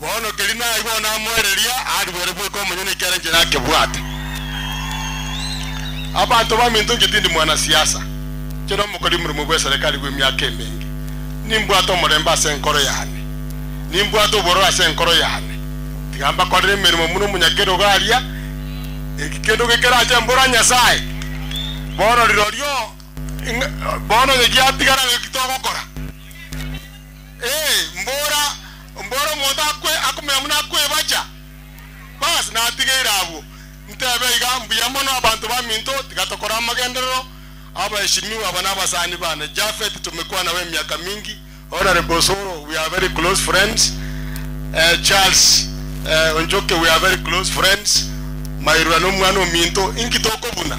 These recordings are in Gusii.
Bono keria naigwa namoereria, arigwere bweka omonyene ekiagera inche nakebwate. Abanto baminto inche tindi mwanasiasa, inche nomokori omoremwa bw'eserekari bw'emiaka emenge. Nimbwate omorembe ase enkoro yane, nimbwate obororo ase enkoro yane. Tiga mbakorere emeremo buna omonyakerogo aria, eki kende gikerache mbora Nyasae. Bono rirorio, bono onye giatigara, naki togokora? Ee, mbora, mbora omonto akwe, akomenya buna akwebacha. Baas, natigeire abwo. Ntebe iga, Mbuya mono abanto baminto, tiga tokore amagenderero, abaeshimiwa, aba nabasani bane, Japhet tomekwana nabo emiaka mingi, Honourable Osoro, we are very close friends, eh, Charles, eh, Onchoke, we are very close friends, Mairura nomwana ominto, inki tokobuna?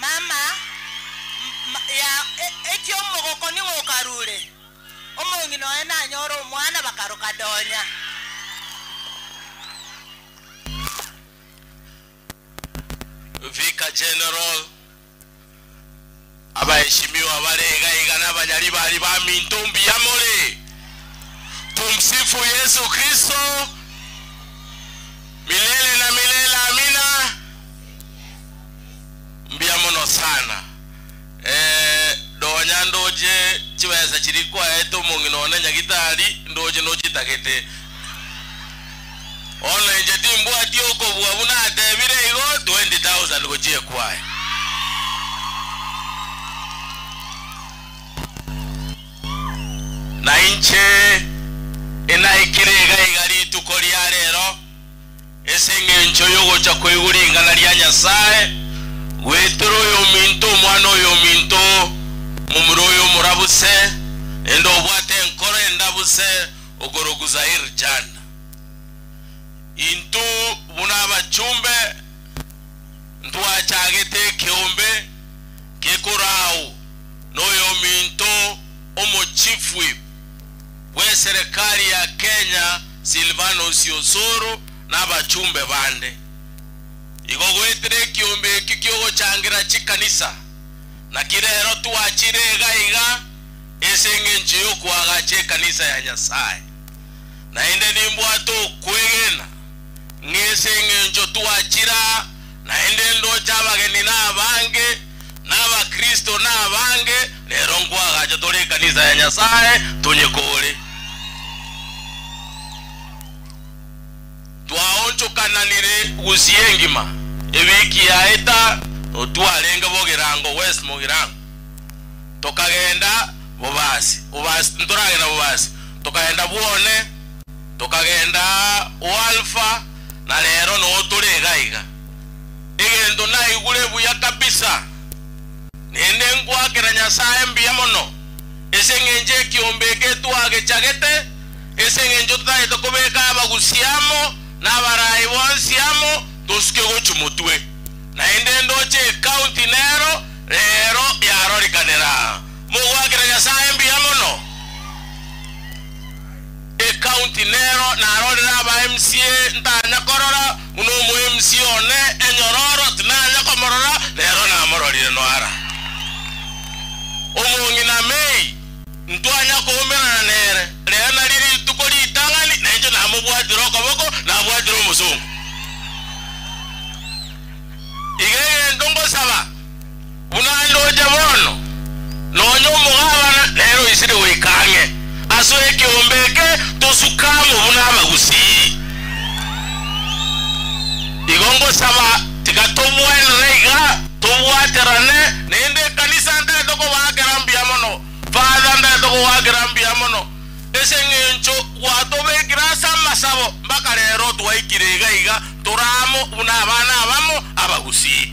Mama, ya, eki omogoko ning'o okarure? Omong'ina oye nanyore omwana bakaroka donya. Vicar General, abaheshimiwa bare iga iga na abanyaribari baminto mbuya more. Tumsifu Yesu Kristo milele na milele amina. Mbuya mono sana. Ee, nonya ndoche chibesa chiria kwaete omong'ina one nyagitari, ndoche nochitagete. Bono inche timbwati okobua buna atebire igo, 20,000 gochia ekwaya. Nainche inaikire iga iga rituko ria rero. Ase engencho y'ogocha kwaigwa ring'ana ria Nyasae, gwetere oyominto omwana oyominto momura oyomorabu se, ende obwate enkoro endabu se okorokwa Zair Jana. Intw buna abachumbe ntwachagete ekeombe gekorau noyominto omochifwi. bw'eserekari ya Kenya Silvanus Osoro na abachumbe bande igo goetera ekiombe ekio ki'ogochangera chikanisa, naki rero twachire iga iga ase engencho y'okoagacha ekanisa ya Nyasae. Naende nimbwate okwegena ng'a ase engencho twachire aa naende ndoche abageni nabange, na abakristo nabange, rero nkwagacha tore ekanisa ya Nyasae tonye kore. Twaonchokananire gusii engima ewiki yaeta notwarenge Bogirango West Mogirango, tokagenda Bobasi Bobasi ntoragenda Bobasi, tokagenda Bwone, tokagenda Oalfa, na rero noo tore igaiga. Egento naigure buya kabisa, nende ngoakera Nyasae mbuya mono ase engencho ekiombe eke twagechagete, ase engencho totaete kobeka abagusi amo na abaraai bonsi amo tosuke gochia motwe. Naende ndoche ecounty nero rero yarorikanera. Mogoakera Nyasae mbuya mono. Ecounty nero narorire aba MCA ntanya korora buna omo MCA one enyororo tinanya komorora nero namororire noara omong'ina May ntwanya koumerana nere rero nari rituko ritang'ani na inche namobwatire okoboko nabwatire omosongo iga egento ngosaba Buna ndoche bono, nonya omogabana nere oisire goika ang'e ase ekeombe eke, tosuka amo buna abagusii. Igo ngosaba, tiga togwenerere iga, tobwaterane. Naende ekanisa ntagete kobaa kera mbuya mono. Father, ntagete kobaa kera mbuya mono, ase eng'encho gwatobekire ase amasabo mpaka rero, twaikire iga iga, tore amo buna abana abamo abagusii.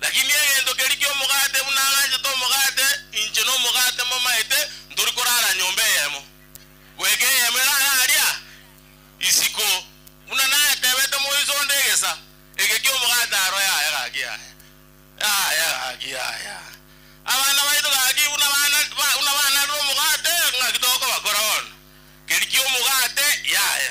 Lakini egento keria ki'omogate, buna ang'anchete omogate, inche nomogate mbomaete, ntori korara nyomba eyemo, goika eyemo erare aria isiko, buna natebete moiso onde egesa eke ki'omogate aro yaye gaki yaye, yaye gaki yaye. Abana baito gaki buna bana buna banarire omogate, ng'aki tokobakora bono? Keria ki'omogate yaye.